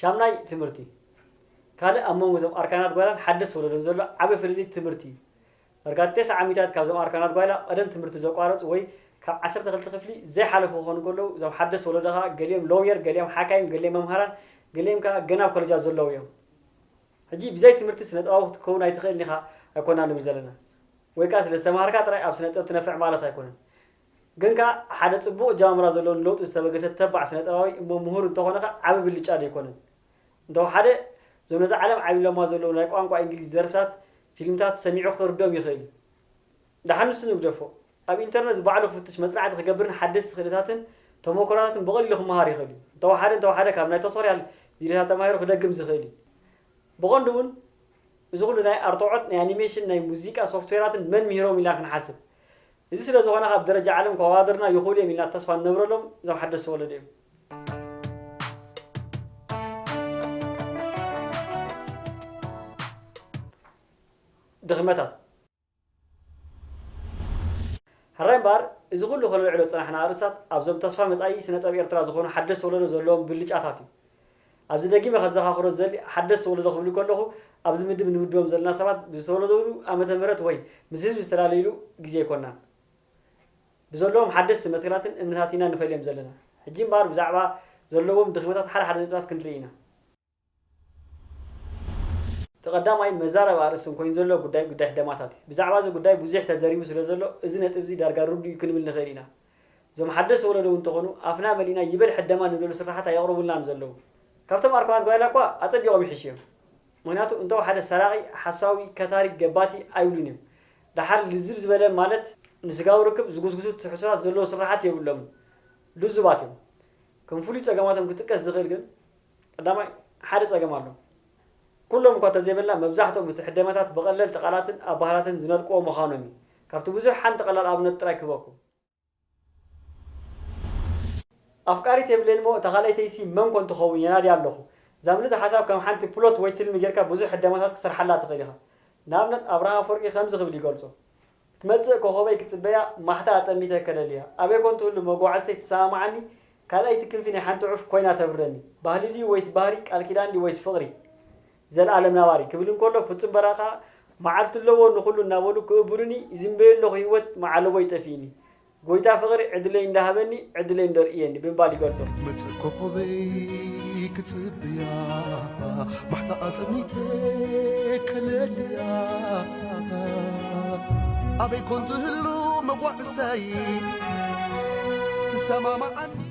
ሻምናይ ትምህርቲ ካልእ ኣብ መንጎ እዞም ኣርካናት ጓይላን ሓደስቲ ወለዶን ዘሎ ዓቢ ፍልልይ ትምህርቲ እዩ። ዳርጋ ተሰዓ ሚእታዊት ካብዞም ኣርካናት ጓይላ ቀደም ትምህርቲ ዘቋረጹ ወይ ካብ ዓሰርተ ክልተ ክፍሊ ዘይሓለፉ ክኾኑ እንከለዉ እዞም ሓደስቲ ወለዶ ከኣ ገሊኦም ሎውየር ገሊኦም ሓካይም ገሊኦም መምሃራን ገሊኦም ከኣ ገና ኣብ ኮለጃት ዘለዉ እዮም። ሕጂ ብዘይ ትምህርቲ ስነጥባዊ ክትከውን ኣይትኽእልን ኢኻ ኣይኮናን ንብል ዘለና። ወይ ከኣ ስለዝተማሃርካ ጥራይ ኣብ ስነጥበብ ትነፍዕ ማለት ኣይኮነን። ግን ከኣ ሓደ ጽቡቕ ኣጀማምራ ዘለዎ ንለውጢ ዝተበገሰ ተባዕ ስነጥበባዊ እሞ ምሁር እንተኾነ ከኣ ዓቢ ብልጫ ዶ ኣይኮነን? እንተወሓደ እዞም ነዛ ዓለም ዓብሊሎማ ዘለዉ ናይ ቋንቋ ኢንግሊዝ ደርፍታት ፊልምታት ሰሚዑ ክርድኦም ይኽእል እዩ። ደሓን ንሱ ንግደፎ ኣብ ኢንተርነት ዝባዕሉ ክፍትሽ መጽናዕቲ ክገብርን ሓደስቲ ክእለታትን ተሞክሮታትን ብቐሊሉ ክመሃር ይኽእል እዩ። እንተወሓደ እንተወሓደ ካብ ናይ ቶቶርያል ቪድዮታት ተማሂሩ ክደግም ዝኽእል እዩ። ብቐንዱ እውን እዚ ኩሉ ናይ ኣርትዖት ናይ ኣኒሜሽን ናይ ሙዚቃ ሶፍትዌራትን መን ምሂሮም ኢልና ክንሓስብ እዚ ስለ ዝኾነ ካብ ደረጃ ዓለም ከዋድርና ይኽእሉ እዮም ኢልና ተስፋ ንነብረሎም እዞም ሓደስቲ ወለዶ እዮም። ድኽመታት ሕራይ እምበኣር እዚ ኩሉ ከነልዕሎ ዝጸናሕና ኣርእስታት ኣብዞም ተስፋ መጻኢ ስነ ጥበብ ኤርትራ ዝኾኑ ሓደስቲ ወለዶ ዘለዎም ብልጫታት እዩ። ኣብዚ ደጊመ ከዘኻኽሮ ዝደሊ ሓደስቲ ወለዶ ክብል ከለኹ ኣብዚ ምድብ እንምድቦም ዘለና ሰባት ብዝተወለድሉ ዓመተ ምህረት ወይ ምስ ህዝቢ ዝተላለይሉ ግዜ ኣይኮናን። ብዘለዎም ሓደስቲ መትከላትን እምነታትን ኢና ንፈልዮም ዘለና። ሕጂ እምበኣር ብዛዕባ ዘለዎም ድኽመታት ሓደ ሓደ ነጥብታት ክንርኢ ኢና። እቲ ቀዳማይ መዛረቢ ኣርእስትን ኮይኑ ዘሎ ጉዳይ ጉዳይ ሕደማታት እዩ። ብዛዕባ እዚ ጉዳይ ብዙሕ ተዘሪቡ ስለዘሎ እዚ ነጥብዚ ዳርጋ ርዱእ እዩ ክንብል ንኽእል ኢና። እዞም ሓደስቲ ወለዶ እውን ተኾኑ ኣፍና መሊእና ይበል ሕደማ ንብለሉ ስርሓት ኣየቕርቡልናን ዘለዉ። ካብቶም ኣርኮናት ጓይላ እኳ ኣጸቢቖም ይሕሹ እዮም። ምኽንያቱ እንተወሓደ ሰራቒ፣ ሓሳዊ፣ ከታሪ፣ ገባቲ ኣይብሉን እዮም። ደሓር ልዝብ ዝበለ ማለት ንስጋዊ ርክብ ዝጉስጉሱ ትሕዝቶታት ዘለዎ ስርሓት የብሎምን። ልዙባት እዮም። ከም ፍሉይ ጸገማቶም ክጥቀስ ዝኽእል ግን ቀዳማይ ሓደ ጸገም ኣሎ። ኩሎም እኳ እንተዘይበልና መብዛሕትኦም እቲ ሕደማታት ብቐለልቲ ቃላትን ኣባህላትን ዝነድቁዎ ምዃኖም እዩ። ካብቲ ብዙሕ ሓንቲ ቀላል ኣብነት ጥራይ ክህበኩም። ኣፍቃሪት የብለይን'ሞ እታ ካልኣይተይሲ መን ኮን ትኸውን የናድያ ኣለኹ ዛም ልድ ሓሳብ ከም ሓንቲ ፕሎት ወይ ትልሚ ጌርካ ብዙሕ ህደማታት ክትሰርሓላ ትኽእል ኢኻ። ንኣብነት ኣብርሃም ኣፍወርቂ ከምዚ ክብል ይገልጾ ክትመጽእ ኮኾበይ ክጽበያ ማሕታ ኣጠሚተ ከለልያ ኣበይ ኮን ትህሉ መጓዓዝተይ ትሰማማዓኒ ካልኣይቲ ክንፊ ናይ ሓንቲ ዑፍ ኮይና ተብረኒ ባህሊ ድዩ ወይስ ባህሪ ቃል ኪዳን ድዩ ወይስ ፍቕሪ ዘልኣለም ናባሪ ክብል እንከሎ ፍጹም በራካ ማዓልቲ ኣለዎ ንኩሉ እናበሉ ክእብሩኒ ይዝንበዮ ኣለኩ ሂወት ማዓለቦይ ጠፊኢኒ ጎይታ ፍቅሪ ዕድለይ እንዳ ሃበኒ ዕድለይ እንዶ ርእየኒ ብምባል ይገልጾ። መጽእ ኮኾበይ ክጽብያ ማሕታ ኣጠሚተ ከለልያ ኣበይ ኮን ትህሉ መጓዕሰይ ትሰማማዓኒ።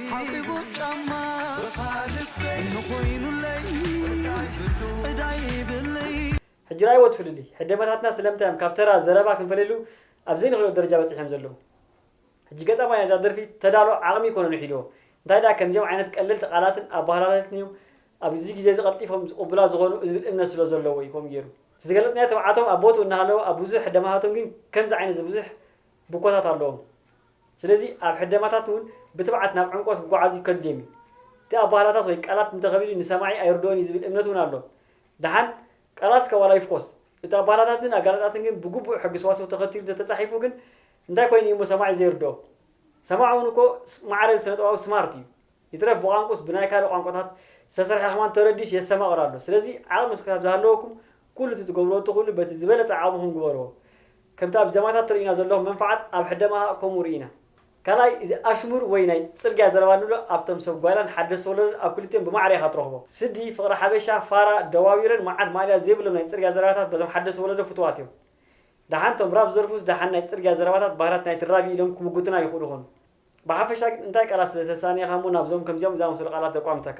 ሓቂቡ ጫማ ብኻ ልበይ እንኾይኑለይ ወርቃይ ብሉ ዕዳይ ይብለይ። ሕጂ ረኣይዎ እቲ ፍልልይ። ሕደመታትና ስለምንታይ እዮም ካብ ተራ ዘረባ ክንፈልየሉ ኣብ ዘይንኽእለሉ ደረጃ በጺሖም ዘለዉ። ሕጂ ገጣማይ ነዛ ደርፊ ተዳሎ ዓቕሚ ኣይኮነን ውሒድዎ። እንታይ ደኣ ከምዚኦም ዓይነት ቀለልቲ ቃላትን ኣበሃህላታትን እዮም ኣብዚ ግዜ እዚ ቀልጢፎም ዝቕቡላ ዝኾኑ ዝብል እምነት ስለ ዘለዎ እዩ ከምኡ ገይሩ። እቲ ዝገለጽናዮ ትብዓቶም ኣብ ቦትኡ እናሃለወ ኣብ ብዙሕ ሕደመታቶም ግን ከምዚ ዓይነት እዚ ብዙሕ ብኮታት ኣለዎም። ስለዚ ኣብ ሕደማታት እውን ብትብዓት ናብ ዕምቆት ክጓዓዙ ከድልዮም እዩ። እቲ ኣባህላታት ወይ ቃላት እንተ ከቢዱ ንሰማዒ ኣይርድኦን እዩ ዝብል እምነት እውን ኣሎዎም። ደሓን ቃላት እስከ ዋላ ይፍኮስ፣ እቲ ኣባህላታትን ኣገላልጻትን ግን ብግቡእ ሕጊ ሰዋስው ተኸቲሉ እንተ ተጻሒፉ ግን እንታይ ኮይኑ እዩ እሞ ሰማዒ ዘይርድኦ? ሰማዒ እውን እኮ ማዕረ እዚ ስነጥበባዊ ስማርት እዩ። ይትረፍ ብቋንቁስ ብናይ ካልእ ቋንቋታት ዝተሰርሐ ከማን ተረዲኡስ የሰማቕር ኣሎ ስለዚ ዓቕሚ ክሳብ ዝሃለወኩም ኩሉ እቲ ትገብርዎ እትኽእሉ በቲ ዝበለጸ ዓቕምኹም ግበርዎ ከምቲ ኣብ ዘማታት ተርእዩና ዘለኹም መንፍዓት ኣብ ሕደማሃ ከምኡ ርኢና ካልኣይ እዚ ኣሽሙር ወይ ናይ ጽርግያ ዘረባ ንብሎ ኣብቶም ሰብ ጓይላን ሓደስቲ ወለዶን ኣብ ክልቲኦም ብማዕረ ኢኻ ትረኽቦ ስዲ ፍቕሪ ሓበሻ ፋራ ደዋዊረን መዓት ማእለያ ዘይብሎም ናይ ጽርግያ ዘረባታት በዞም ሓደስቲ ወለዶ ፍቱዋት እዮም ደሓን እቶም ራፕ ዝደርፉስ ደሓን ናይ ጽርግያ ዘረባታት ባህላት ናይቲ ራቢ ኢሎም ክምጉቱና ይኽእሉ ይኾኑ ብሓፈሻ ግን እንታይ ቃላት ስለ ዝተሳነየኻ እሞ ናብዞም ከምዚኦም ዝኣመሰሉ ቃላት ዘቋምተካ?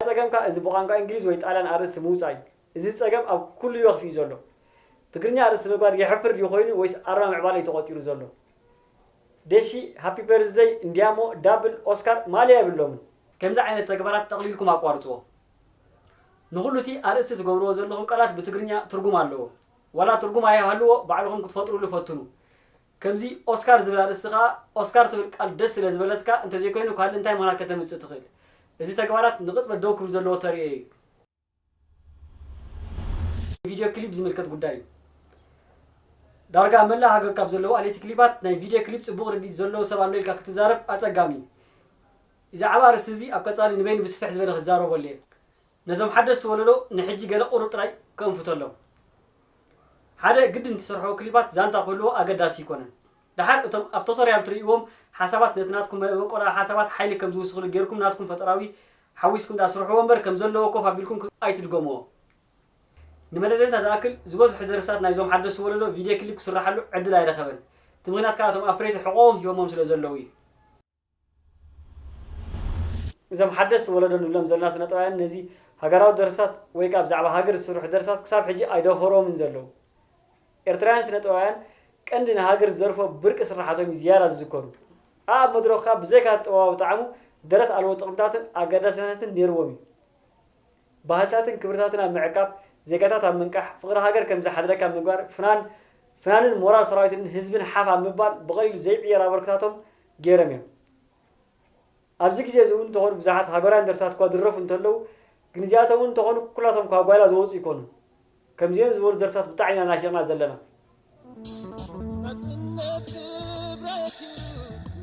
ጸገምካ እዚ ብቋንቋ እንግሊዝ ወይ ጣልያን ኣርእስቲ ምውጻእ እዩ። እዚ ጸገም ኣብ ኩሉ ዮክፍ እዩ ዘሎ። ትግርኛ ኣርእስቲ ምግባር የሕፍር ድዩ ኮይኑ ወይስ ኣርማ ምዕባለ እዩ ተቖጺሩ ዘሎ? ዴሺ ሃፒ በርዝደይ እንድያሞ ዳብል፣ ኦስካር፣ ማልያ የብሎምን። ከምዚ ዓይነት ተግባራት ጠቕሊልኩም ኣቋርጽዎ። ንኹሉ እቲ ኣርእስቲ ትገብርዎ ዘለኹም ቃላት ብትግርኛ ትርጉም ኣለዎ። ዋላ ትርጉም ኣይሃልዎ ባዕልኹም ክትፈጥሩሉ ፈትኑ። ከምዚ ኦስካር ዝብል ኣርእስቲ ከኣ ኦስካር ትብል ቃል ደስ ስለ ዝበለትካ እንተዘይኮይኑ ካልእ እንታይ ምኽንያት ከተምጽእ ትኽእል? እዚ ተግባራት ንቕጽበት ደው ክብል ዘለዎ ተርእዮ እዩ። ቪድዮ ክሊፕ ዝምልከት ጉዳይ እዩ። ዳርጋ ኣብ መላእ ሃገር ካብ ዘለዉ ኣለይቲ ክሊፓት ናይ ቪድዮ ክሊፕ ጽቡቕ ርድኢት ዘለዎ ሰብ ኣሎ ኢልካ ክትዛረብ ኣጸጋሚ እዩ። ኢዛዕባ ኣርእስቲ እዚ ኣብ ቀጻሊ ንበይኑ ብስፍሕ ዝበለ ክዛረበሉ እየ። ነዞም ሓደስቲ ወለዶ ንሕጂ ገለ ቁሩብ ጥራይ ከእንፍተሎም። ሓደ ግድን ትሰርሕዎ ክሊፓት ዛንታ ክህልዎ ኣገዳሲ ኣይኮነን። ደሓር እቶም ኣብ ቶቶርያል ትርእይዎም ሓሳባት ነቲ ናትኩም መበቆላዊ ሓሳባት ሓይሊ ከም ዝውስኽሉ ጌርኩም ናትኩም ፈጠራዊ ሓዊስኩም ደኣ ስርሕዎ እምበር ከም ዘለዎ ኮፍ ኣቢልኩም ኣይትድገምዎ። ንመደደንታ ዝኣክል ዝበዝሑ ደርፍታት ናይዞም ሓደስቲ ወለዶ ቪድዬ ክሊፕ ክስርሓሉ ዕድል ኣይረኸበን። እቲ ምኽንያት ከኣ እቶም ኣፍረይቲ ሕቖኦም ሂቦሞም ስለ ዘለዉ እዩ። እዞም ሓደስቲ ወለዶ ንብሎም ዘለና ስነጥበባውያን ነዚ ሃገራዊ ደርፍታት ወይ ከኣ ብዛዕባ ሃገር ዝስርሑ ደርፍታት ክሳብ ሕጂ ኣይደፈሮምን ዘለዉ። ኤርትራውያን ስነጥበባውያን ቀንዲ ንሃገር ዝደርፎ ብርቂ ስርሓቶም እዩ ዝያዳ ዝዝከሩ። ኣኣብ መድረኹ ከኣ ብዘይካ'ቲ ጥበባዊ ጣዕሙ ደረት ኣልቦ ጥቕምታትን ኣገዳስነታትን ኔርዎም እዩ። ባህልታትን ክብርታትን ኣብ ምዕቃብ፣ ዜጋታት ኣብ ምንቃሕ፣ ፍቕሪ ሃገር ከም ዝሓድረካ ምግባር፣ ፍናን ፍናንን ሞራል ሰራዊትን ህዝብን ሓፍ ኣብ ምባል ብቐሊሉ ዘይዕየር ኣበርክታቶም ገይረም እዮም። ኣብዚ ግዜ እዚ እውን እንተኾኑ ብዙሓት ሃገራውያን ደርፍታት እኳ ዝድረፉ እንተለዉ ግን እዚኣቶም እውን እንተኾኑ ኩላቶም ካብ ጓይላ ዝወጹ ኣይኮኑን። ከምዚኦም ዝበሉ ደርፍታት ብጣዕሚ ኢና ናፊቕና ዘለና። ናጽነት ክብረት እዩ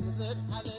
ንዘልኣለም።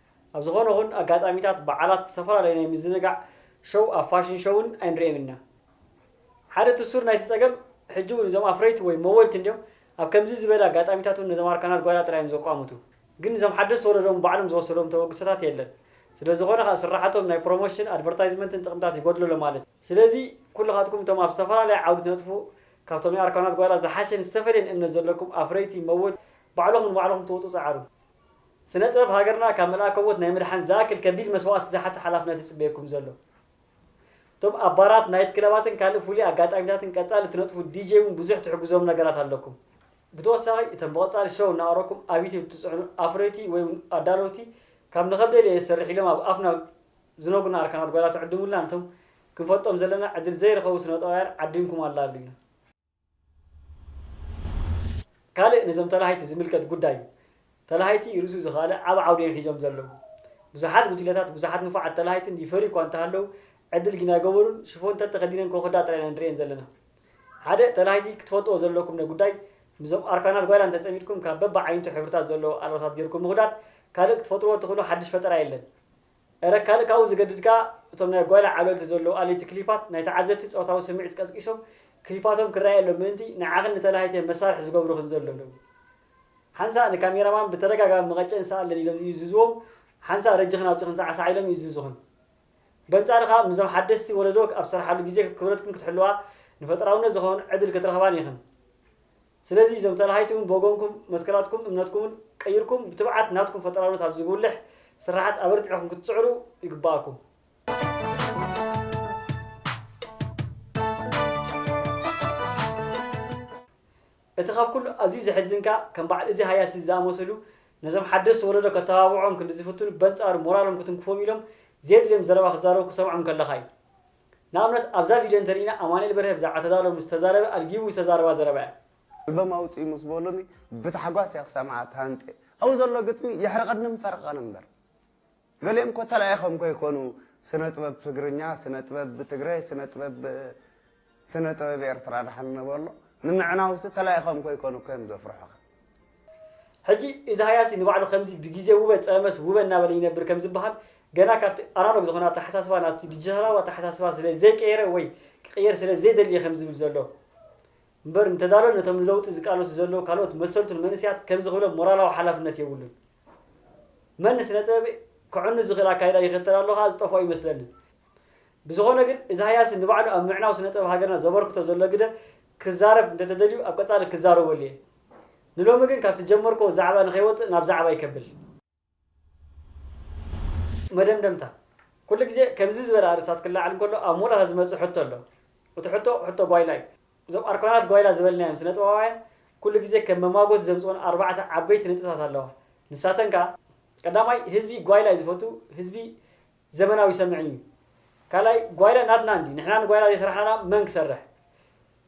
ኣብ ዝኾነ ኹን ኣጋጣሚታት በዓላት ዝተፈላለዩ ናይ ምዝንጋዕ ሸው ኣብ ፋሽን ሸውን ኣይንርእም ኢና። ሓደ እቲ ሱር ናይቲ ጸገም ሕጂ ውን እዞም ኣፍረይቲ ወይ መወልቲ እንድዮም ኣብ ከምዚ ዝበለ ኣጋጣሚታት ውን ነዞም ኣርካናት ጓይላ ጥራይ እዮም ዘቋምቱ። ግን እዞም ሓደስቲ ወለዶ ውን ባዕሎም ዝወሰድዎም ተበግሶታት የለን። ስለ ዝኾነ ከኣ ስራሓቶም ናይ ፕሮሞሽን፣ ኣድቨርታይዝመንትን ጥቕምታት ይጎድሎ ኣሎ ማለት እዩ። ስለዚ ኩልኻትኩም እቶም ኣብ ዝተፈላለየ ዓውዲ ትነጥፉ ካብቶም ናይ ኣርካናት ጓይላ ዝሓሸን ዝተፈልየን እምነት ዘለኩም ኣፍረይቲ፣ መወልቲ፣ ባዕልኹም ንባዕልኹም ትወጹ ጸዓሩ። ስነ ጥበብ ሃገርና ካብ መልኣከ ሞት ናይ ምድሓን ዝኣክል ከቢድ መስዋእቲ ዝሓተ ሓላፍነት እዩ ዝጽበየኩም ዘሎ። እቶም ኣብ ባራት፣ ናይት ክለባትን ካልእ ፍሉይ ኣጋጣሚታትን ቀጻሊ እትነጥፉ ዲጀይ እውን ብዙሕ ትሕግዞም ነገራት ኣለኩም። ብተወሳኺ እተን ብቐጻሊ ሸው እናቕረብኩም ኣብ ዩትዩብ እትጽዕኑ ኣፍረይቲ ወይ እውን ኣዳለውቲ ካብ ንኸብደል እየ ዝሰርሕ ኢሎም ኣብ ኣፍና ዝነግሩና ኣርካናት ጓይላ ትዕድሙልና ነቶም ክንፈልጦም ዘለና ዕድል ዘይረኸቡ ስነ ጥበባውያን ዓዲምኩም ኣላልዩና። ካልእ ነዞም ተላሃይቲ ዝምልከት ጉዳይ እዩ። ተላሃይቲ ርእሱ ዝኸኣለ ዓቢ ዓውዲ እዮም ሒዞም ዘለዉ። ብዙሓት ጉጅለታት ብዙሓት ንፉዓት ተላሃይትን ይፈርዩ እኳ እንተሃለዉ ዕድል ግና ኣይገበሩን፣ ሽፎን ተተኸዲነን ኮኾዳ ጥራይ ኢና ንርእየን ዘለና። ሓደ ተላሃይቲ ክትፈልጥዎ ዘለኩም ን ጉዳይ ምስዞም ኣርካናት ጓይላ እንተጸሚድኩም ካብ በብዓይንቱ ሕብርታት ዘለዎ ኣልባሳት ጌርኩም ምኹዳድ ካልእ ክትፈጥርዎ እትኽእሉ ሓድሽ ፈጠራ የለን። እረ ካልእ ካብኡ ዝገድድ ከኣ እቶም ናይ ጓይላ ዓብለልቲ ዘለዉ ኣለይቲ ክሊፓት ናይ ተዓዘብቲ ጸወታዊ ስምዒት ቀስቂሶም ክሊፓቶም ክረኣየሎም ምእንቲ ንዓኽን ንተላሃይትየን መሳርሒ ዝገብሩኽን ዘለዉ ሓንሳእ ንካሜራማን ብተደጋጋሚ መቐጨን ስኣለን ኢሎም ይእዝዝዎም ሓንሳእ ረጅኽን ኣውጺኽን ሳዕሳዕ ኢሎም ይእዝዙኽን በንጻሩ ከኣ ምስዞም ሓደስቲ ወለዶ ኣብ ትሰርሓሉ ግዜ ክብረትክን ክትሕልዋ ንፈጠራውነት ዝኾን ዕድል ክትረኽባን ኢኽን ስለዚ እዞም ጠላሃይቲ ውን ብወገንኩም መትከላትኩም እምነትኩምን ቀይርኩም ብትብዓት ናትኩም ፈጠራውነት ኣብ ዝጉልሕ ስርሓት ኣበርቲዕኩም ክትጽዕሩ ይግበኣኩም። እቲ ካብ ኩሉ ኣዝዩ ዘሕዝን ከኣ ከም በዓል እዚ ሃያሲ ዝኣመሰሉ ነዞም ሓደስቲ ወለዶ ከተባብዕኦም ክንዲ ዝፍትኑ በንጻሩ ሞራሎም ክትንክፎም ኢሎም ዘየድልዮም ዘረባ ክዛረቡ ክትሰምዖም እንከለኻ እዩ። ንኣብነት ኣብዛ ቪድዮ እንተሪኢና ኣማኒኤል በርሀ ብዛዕባ ተዳሎ ምስ ተዛረበ ኣልጊቡ ዝተዛረባ ዘረባ እያ። ኣልበም ኣውጽኡ ምስ በሉኒ ብታሕጓስ እየ ክሰምዓ ተሃንጥየ። ኣብኡ ዘሎ ግጥሚ የሕርቐንን ፈርቐን እምበር። ገሊኦም እኮ ተላኢኾም ከይኮኑ ስነጥበብ ትግርኛ፣ ስነጥበብ ብትግረ፣ ስነጥበብ ስነጥበብ ኤርትራ ደሓን ንበሎ ንምዕናውሲ ተላኢኾም ከይኮኑ እኮ እዮም ዘፍርሑኻ። ሕጂ እዚ ሃያሲ ንባዕሉ ከምዚ ብግዜ ውበ ጸመስ ውበ እናበለ ይነብር ከም ዝበሃል፣ ገና ካብቲ ኣናሎግ ዝኾነ ኣተሓሳስባ ናብቲ ዲጂታላዊ ኣተሓሳስባ ስለ ዘይቀየረ ወይ ክቕየር ስለ ዘይደሊ እየ ከም ዝብል ዘሎ። እምበር እንተዳሎ ነቶም ንለውጢ ዝቃለሱ ዘለዉ ካልኦት መሰልቱን መንእሰያት ከምዚ ክብሎም ሞራላዊ ሓላፍነት የብሉን። መን ንስነ-ጥበብ ከዕኑ ዝኽእል ኣካይዳ ይኽተል ኣሎ ከኣ ዝጠፍኦ ኣይመስለንን። ብዝኾነ ግን እዚ ሃያሲ ንባዕሉ ኣብ ምዕናው ስነ-ጥበብ ሃገርና ዘበርክቶ ዘሎ ግደ ክዛረብ እንተተደልዩ ኣብ ቀጻሊ ክዛረበሉ እየ ንሎሚ ግን ካብቲ ጀመርክዎ ዛዕባ ንከይወጽእ ናብ ዛዕባይ ከብል። መደምደምታ፣ ኩሉ ግዜ ከምዚ ዝበለ ኣርእስታት ክለዓል እንከሎ ኣብ መወዳእታ ዝመጽእ ሕቶ ኣሎ። እቲ ሕቶ ሕቶ ጓይላ እዩ። እዞም ኣርካናት ጓይላ ዝበልናዮም ስነጥበባውያን ኩሉ ግዜ ከም መማጎቲ ዘምጽኡን ኣርባዕተ ዓበይቲ ነጥብታት ኣለዋ። ንሳተን ከኣ፣ ቀዳማይ ህዝቢ ጓይላ እዩ ዝፈቱ፣ ህዝቢ። ዘመናዊ ሰምዒ እዩ ካልኣይ ጓይላ ናትና እንዲ ንሕና ንጓይላ ዘይሰራሕናላ መን ክሰርሕ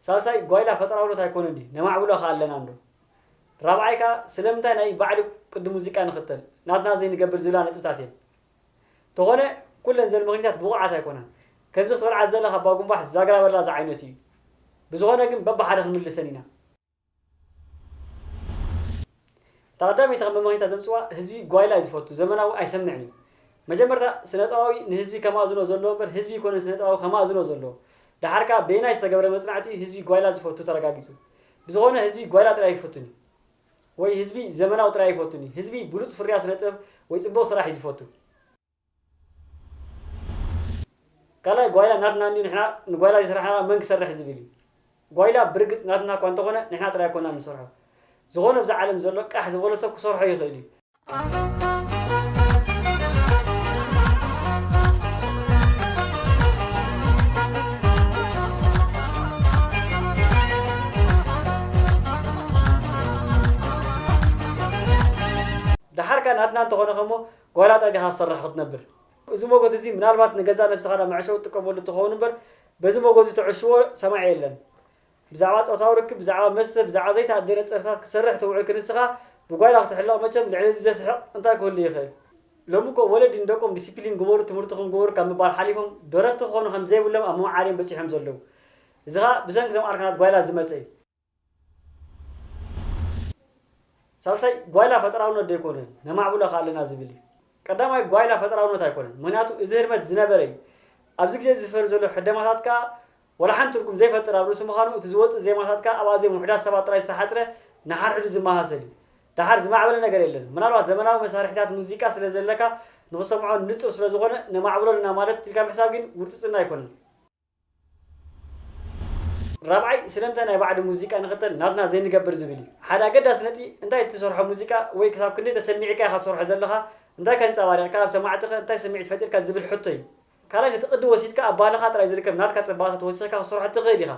ሳልሳይ ጓይላ ፈጠራውነት ኣይኮነን እንዲ ነማዕብሎ ከኣ ኣለና እንዶ ራብዓይ ከኣ ስለምንታይ ናይ ባዕዲ ቅዲ ሙዚቃ ንኽተል ናትና ዘይንገብር ዝብላ ነጥብታት እየን ተኾነ ኩለን ዘን ምኽኒታት ብቑዓት ኣይኮናን ከምዚ ክትበልዓ ዘለኻ ባጉምባሕ ዛግራ በላ ዝዓይነቱ እዩ ብዝኾነ ግን በብሓደ ክንምልሰን ኢና። እታ ቀዳመይቲ ከም መማሂታ ዘምጽዋ ህዝቢ ጓይላ እዩ ዝፈቱ ዘመናዊ ኣይሰምዕን እዩ መጀመርታ ስነጥባዊ ንህዝቢ ከማእዝኖ ዘለዎ እምበር ህዝቢ እይኮነን ስነጥባዊ ከማእዝኖ ዘለዎ ደሓር ከኣ በየናይ ዝተገብረ መጽናዕቲ እዩ ህዝቢ ጓይላ ዝፈቱ ተረጋጊጹ ብዝኮነ ህዝቢ ጓይላ ጥራይ ኣይፈቱን እዩ ወይ ህዝቢ ዘመናዊ ጥራይ ኣይፈቱን እዩ ህዝቢ ብሉጽ ፍርያት ስነጥበብ ወይ ጽቡቅ ስራሕ እዩ ዝፈቱ ካልኣይ ጓይላ ናትና እንድዩ ንሕና ንጓይላ ዘይሰራሕናላ መን ክሰርሕ ዝብል እዩ ጓይላ ብርግጽ ናትና እኳ እንተኾነ ንሕና ጥራይ ኣይኮናን ንሰርሖ ዝኾነ ኣብዛ ዓለም ዘሎ ቃሕ ዝበሎ ሰብ ክሰርሖ ይኽእል እዩ። ደሓር ከኣ ናትና እንተኾነ ከሞ ጓል ኣጣቢኻ ዝሰራሕ ክትነብር። እዚ ሞጎት እዚ ምናልባት ንገዛእ ነብስኻ ዳኣ መዕሸዊ ትጥቀመሉ ትኸውን እምበር በዚ ሞጎት እዚ ተዕሽዎ ሰማዒ የለን። ብዛዕባ ጾታዊ ርክብ ብዛዕባ መስተ ብዛዕባ ዘይተኣደነ ጸርፍታት ክትሰርሕ ትውዕል ክንስኻ ብጓይላ ክትሕለቕ መቸም ልዕሊ እዚ ዘስሕቕ እንታይ ክህሉ ይኽእል። ሎሚ እኮ ወለዲ ንደቆም ዲሲፕሊን ግበሩ ትምህርትኹም ግበሩ ካብ ምባል ሓሊፎም ደረፍቲ ክኾኑ ከምዘይብሎም ኣብ ምምዓር እዮም በጺሖም ዘለዉ። እዚ ከኣ ብሰንኪ እዞም ኣርካናት ጓይላ ዝመጸ እዩ። ሳልሳይ ጓይላ ፈጠራውነት ዶ ኣይኮነን ነማዕብሎ ከ ኣለና ዝብል እዩ። ቀዳማይ ጓይላ ፈጠራውነት ኣይኮነን ምክንያቱ እዚ ህርመት ዝነበረ እዩ። ኣብዚ ግዜ እዚ ዝፈሪ ዘሎ ሕደማታት ከኣ ዋላ ሓንቲ ትርጉም ዘይፈጥር ኣብ ርእሲ ምዃኑ እቲ ዝወጽእ ዜማታት ከኣ ኣብ ኣዝዮም ውሕዳት ሰባት ጥራይ ዝተሓጽረ ንሓድሕዱ ዝመሳሰል እዩ። ደሓር ዝማዕበለ ነገር የለን። ምናልባት ዘመናዊ መሳርሒታት ሙዚቃ ስለ ዘለካ ንኽትሰምዖ ንጹር ስለ ዝኾነ ነማዕብሎ ኣለና ማለት ኢልካ ምሕሳብ ግን ውርጽጽና ኣይኮነን። ራብዓይ ስለምንታይ ናይ ባዕዲ ሙዚቃ ንኽተል ናትና ዘይንገብር ዝብል እዩ። ሓደ ኣገዳሲ ነጥቢ እንታይ እትሰርሖ ሙዚቃ ወይ ክሳብ ክንደይ ተሰሚዕካ ኢኻ ትሰርሖ ዘለኻ፣ እንታይ ከ ኣንጸባሪቕካ ኣብ ሰማዕቲ ከ እንታይ ስምዒት ፈጢርካ ዝብል ሕቶ እዩ። ካልኣይ ነቲ ቅዲ ወሲድካ ኣብ ባህልኻ ጥራይ ዝርከብ ናትካ ጽባቐታት ወሲኽካ ክትሰርሖ እትኽእል ኢኻ።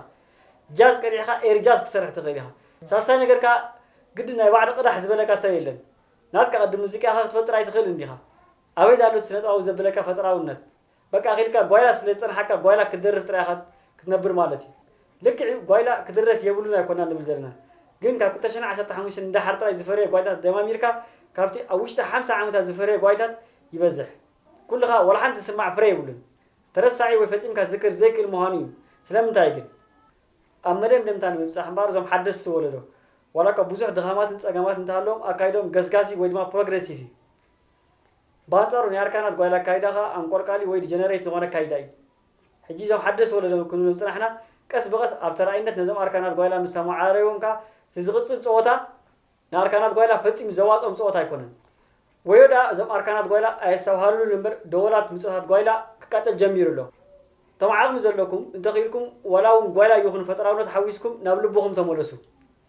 ጃዝ ቀዲሕካ ኤሪ ጃዝ ክትሰርሕ ትኽእል ኢኻ። ሳልሳይ ነገር ከኣ ግድን ናይ ባዕዲ ቅዳሕ ዝበለካ ሰብ የለን። ናትካ ቅዲ ሙዚቃ ኢኻ ክትፈጥር ኣይትኽእልን ዲኻ። ኣበይ ኣሎ እቲ ስነጥባዊ ዘብለካ ፈጠራውነት። በቃ ኪድካ ጓይላ ስለ ዝጸንሓካ ጓይላ ክትደርፍ ጥራይ ኢኻ ክትነብር ማለት እዩ ልክዕ እዩ ጓይላ ክድረፍ የብሉን ኣይኮናን ንብል ዘለና ግን ካብ ክልተ ሽሕን ዓሰርተ ሓሙሽተን ንደሓር ጥራይ ዝፈረየ ጓይላታት ደማሚርካ ካብቲ ኣብ ውሽጢ ሓምሳ ዓመታት ዝፈረየ ጓይላታት ይበዝሕ ኩልኻ ዋላ ሓንቲ ዝስማዕ ፍረ የብሉን ተረሳዒ ወይ ፈጺምካ ክዝክር ዘይክእል ምዃኑ እዩ ስለምንታይ ግን ኣብ መደምደምታ ንምብጻሕ እምበኣር እዞም ሓደስቲ ወለዶ ዋላኳ ብዙሕ ድኻማትን ጸገማትን እንተሃለዎም ኣካይድኦም ገስጋሲ ወይ ድማ ፕሮግረሲቭ እዩ ባንጻሩ ናይ ኣርካናት ጓይላ ኣካይዳ ከኣ ኣንቆልቃሊ ወይ ድጀነሬት ዝኾነ ኣካይዳ እዩ። ሕጂ እዞም ሓደስቲ ወለዶ ክንብሎም ዝጽናሕና ቀስ ብቐስ ኣብ ተራኢነት ነዞም ኣርካናት ጓይላ ምስ ኣመዓራረይዎም ከኣ እቲ ዝቕጽል ጸወታ ንኣርካናት ጓይላ ፈጺሙ ዘዋጽኦም ጸወታ ኣይኮነን። ወዮ ደኣ እዞም ኣርካናት ጓይላ ኣየስተብሃልሉን እምበር ደወላት ምጾታት ጓይላ ክቃጸል ጀሚሩ ኣሎ። እቶም ዓቕሚ ዘለኩም እንተ ክኢልኩም ዋላ ውን ጓይላ ይኹን ፈጠራውነት ሓዊስኩም ናብ ልብኹም ተመለሱ።